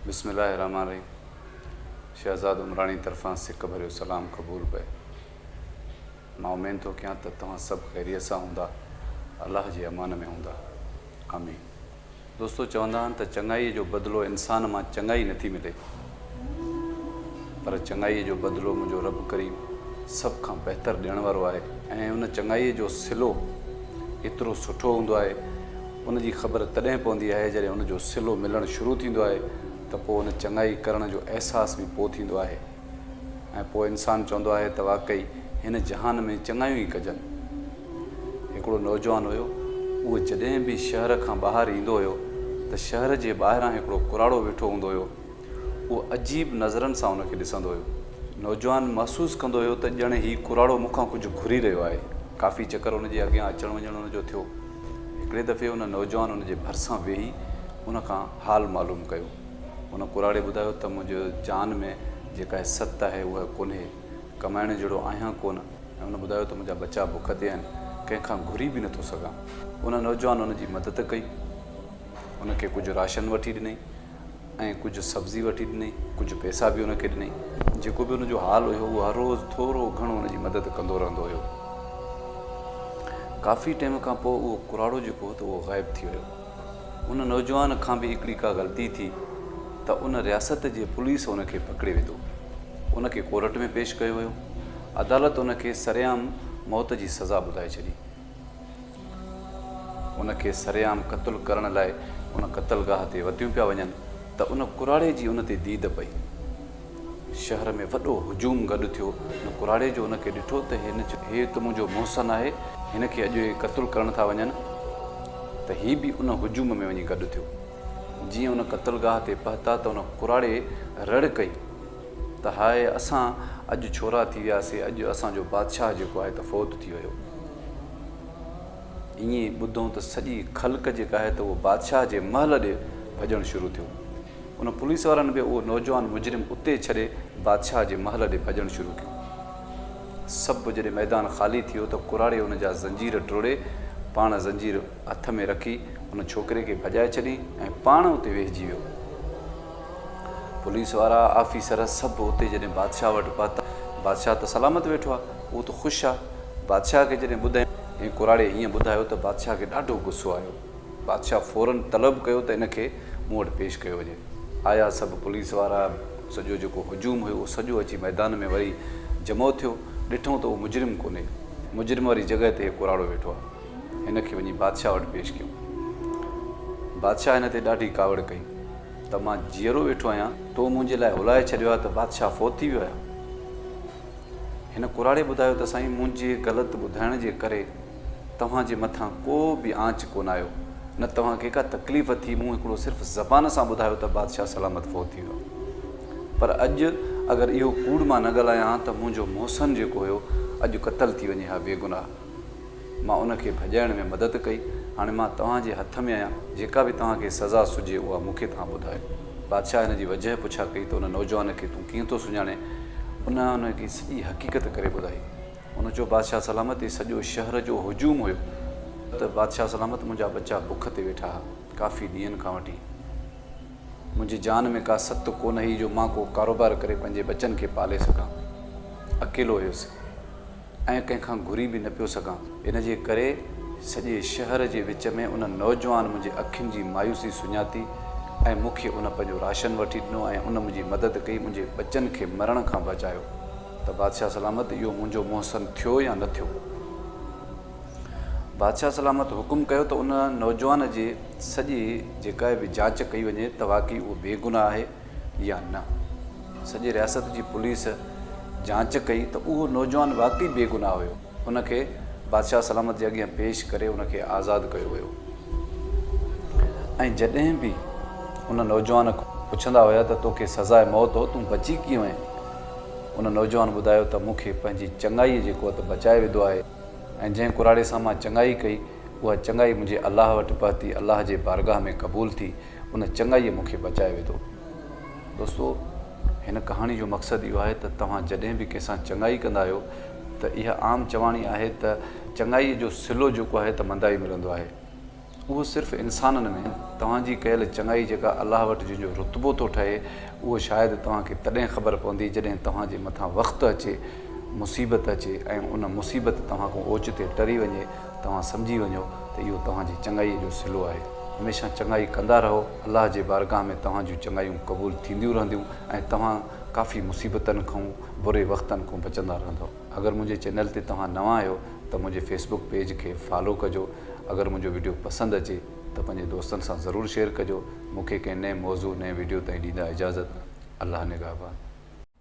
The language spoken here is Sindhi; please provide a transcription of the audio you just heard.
بسم الله الرحمٰن الرحيم شهزاد عمراڻي طرفان سڪ ڀريو سلام قبول پئي مان امين ٿو ڪيان ته توهان سڀ خيريت سان هوندا الله جي امان ۾ هوندا آمين دوستو چوندا آهن ته چڱائي جو بدلو انسان مان چڱائي نٿي ملي پر چڱائي جو بدلو منهنجو رب ڪريم سڀ کان بهتر ڏيڻ وارو آهي ۽ ان چڱائي جو صلو ايترو سٺو هوندو آهي ان جي خبر تڏهن پوندي آهي جڏهن ان جو صلو ملڻ شروع ٿيندو آهي ته پوء ان چڱائي ڪرڻ جو احساس به پوء ٿيندو آهي ۽ پوء انسان چوندو آهي ته واقعي هن جهان ۾ چڱايون ئي ڪجن. هڪڙو نوجوان هيو اهو جڏهن به شهر کان ٻاهر ايندو هيو ته شهر جي ٻاهران هڪڙو ڪراڙو ويٺو هوندو هيو اهو عجيب نظرن سان ان کي ڏسندو هيو. نوجوان محسوس ڪندو هيو ته ڄڻ هي ڪراڙو مون کان ڪجهه گهري رهيو آهي. ڪافي چڪر ان جي اڳيان اچڻ وڃڻ ان جو ٿيو. هڪڙي دفعي ان نوجوان ان جي ڀرسان ويهي ان کان حال معلوم ڪيو. ان ڪراڙي ٻڌايو ته منهنجي جان ۾ جيڪا هي ست آهي اها ڪونهي. ڪمائڻ جهڙو آهيان ڪونه ۽ ان ٻڌايو ته منهنجا ٻچا بک تي آهن. ڪنهن کان گهري به نٿو سگهان. ان نوجوان ان جي مدد ڪئي. ان کي ڪجهه راشن وٺي ڏنئي. ۽ ڪجهه سبزي وٺي ڏنئي، ڪجهه پئسا به هن کي ڏنئي. جيڪو به هن جو حال هيو هو هر روز ٿورو گهڻو هن جي مدد ڪندو رهندو هيو. ڪافي ٽيم کان پوء اهو ڪراڙو جيڪو هو ته اهو غائب ٿي ويو. ان نوجوان کان به هڪڙي ڪا غلطي ٿي ته ان رياست جي پوليس ان کي پڪڙي وڌو. ان کي ڪورٽ ۾ پيش ڪيو ويو. عدالت ان کي سرعام موت جي سزا ٻڌائي ڇڏي. ان کي سرعام قتل ڪرڻ لاء ان قتلگاهه تي وتيون پيا وڃن ته ان ڪراڙي جي ان تي ديد پئي. شهر ۾ وڏو هجوم گڏ ٿيو. ان ڪراڙي جو ان کي ڏٺو ته هن چيو. هي ته منهنجو محسن آهي. هن کي اڄ اهي قتل ڪرڻ ٿا وڃن ته هي به ان هجوم ۾ وڃي گڏ ٿيو. جيئن ان قتلگاهه تي پهتا ته ان ڪراڙي رڙ ڪئي. ته هاء اسان اڄ ڇورا ٿي وياسي اڄ اسان جو بادشاهه جيڪو آهي ته فوت ٿي ويو. ائين ٻڌون ته سڄي خلق جيڪا آهي ته اهو بادشاهه جي محل ڏي ڀڄڻ شروع ٿيو. ان پوليس وارن به اهو نوجوان مجرم اتي ڇڏي بادشاهه جي محل ڏي ڀڄڻ شروع ڪيو. سڀ جڏهن ميدان خالي ٿيو ته ڪراڙي ان جا زنجير ٽوڙي پاڻ زنجير هٿ ۾ رکي ان ڇوڪري کي ڀڄائي ڇڏي ۽ پاڻ اتي ويهجي ويو. پوليس وارا آفيسر سڀ اتي جڏهن بادشاهه وٽ پهتا، بادشاهه ته سلامت ويٺو آهي، اهو ته خوش آهي. بادشاهه کي جڏهن ٻڌايائون ۽ ڪراڙي ائين ٻڌايو ته بادشاهه کي ڏاڍو غصو آيو. بادشاهه فورن طلب ڪيو ته ان کي مون وٽ پيش ڪيو وڃي. آيا سڀ پوليس وارا، سڄو جيڪو هجوم هيو اهو سڄو اچي ميدان ۾ وري جمع ٿيو، ڏٺئون ته اهو مجرم ڪونهي، مجرم واري جڳهه تي هي ڪراڙو ويٺو آهي، هن کي وڃي بادشاهه وٽ پيش ڪيون. بادشاهه هن تي ڏاڍي ڪاوڙ ڪئي. ته مان جيئرو ويٺو آهيان، تو منهنجي لاء هلائي ڇڏيو آهي ته بادشاهه فوت ٿي ويو آهي. هن ڪراڙي ٻڌايو ته سائين منهنجي غلط ٻڌائڻ جي ڪري توهان جي مٿان ڪو به آنچ ڪونه آيو، نه توهان کي ڪا تڪليف ٿي، مون هڪڙو صرف زبان سان ٻڌايو ته بادشاهه سلامت فوت ٿي ويو آهي. پر اڄ اگر اهو ڪوڙ مان نه ڳالهايان ها ته منهنجو محسن جيڪو هيو اڄ قتل ٿي وڃي ها بيگناهه. مان ان کي ڀڄائڻ ۾ مدد ڪئي. هاڻي مان توهان جي هٿ ۾ آهيان. جيڪا به توهان کي سزا سجهي اها مون کي توهان ٻڌايو. بادشاهه هن جي وجهه پڇا ڪئي ته ان نوجوان کي تون ڪيئن ٿو سڃاڻين؟ ان هن کي سڄي حقيقت ڪري ٻڌائي. هن چيو بادشاهه سلامت تي سڄو شهر جو هجوم هيو ته بادشاهه سلامت منهنجا ٻچا بک تي ويٺا ها ڪافي ڏينهن کان وٺي. منهنجي جان ۾ ڪا ست ڪونه هئي جو مان ڪو ڪاروبار ڪري پنهنجي ٻچن کي پالي سگهان. اڪيلو هيس. ۽ ڪنهن کان گهري به نه پيو سگهان، ان جي ڪري سڄي شهر جي وچ ۾ ان نوجوان منهنجي اکين جي مايوسي سڃاتي ۽ مون کي ان پنهنجو راشن وٺي ڏنو ۽ ان منهنجي مدد ڪئي، منهنجي ٻچن کي مرڻ کان بچايو، ته بادشاهه سلامت اهو منهنجو محسن ٿيو يا نه ٿيو؟ بادشاهه سلامت حڪم ڪيو ته ان نوجوان جي سڄي جيڪا به جاچ ڪئي وڃي ته واقعي اهو بيگناهه آهي. يا نه؟ سڄي رياست جي پوليس جاچ ڪئي ته اهو نوجوان واقعي بيگناهه هيو. ان کي بادشاهه سلامت جي اڳيان پيش ڪري ان کي آزاد ڪيو ويو ۽ جڏهن به ان نوجوان کان پڇندا هيا ته توکي سزاء موت هو تون بچي ڪيئن وئين؟ ان نوجوان ٻڌايو ته مون کي پنهنجي چڱائيء جي قوت بچائي وڌو آهي ۽ جنهن ڪراڙي سان مان چڱائي ڪئي اها چڱائي منهنجي الله وٽ پهتي الله جي بارگاهه ۾ قبول ٿي ان چڱائيء مون کي بچائي وڌو. دوستو! هن ڪهاڻي جو مقصد اهو آهي ته توهان جڏهن به ڪنهن سان چڱائي ڪندا آهيو ته اها عام چواڻي آهي ته چڱائيء جو صلو جيڪو آهي ته مندائي ملندو آهي. اهو صرف انسانن ۾ توهان جي ڪيل چڱائي جيڪا الله وٽ جنهن جو رتبو ٿو ٺهي اهو شايد توهان کي تڏهن خبر پوندي جڏهن توهان جي مٿان وقت اچي، مصيبت اچي ۽ ان مصيبت توهان کان اوچتي ٽري وڃي. توهان سمجهي وڃو ته اهو توهان جي چڱائيء جو صلو آهي. هميشه چڱائي ڪندا رهو، الله جي بارگاهه ۾ توهان جون چڱايون قبول ٿينديون رهنديون ۽ توهان ڪافي مصيبتن کون، بري وقتن کون بچندا رهندؤ. اگر منهنجي چينل تي توهان نوان آهيو ته منهنجي فيس بڪ پيج کي فالو ڪجو. اگر منهنجو وڊيو پسند اچي ته پنهنجي دوستن سان ضرور شيئر ڪجو. مون کي ڪنهن نئين موضوع، نئين وڊيو تائين ڏيندا اجازت. الله نگهبان.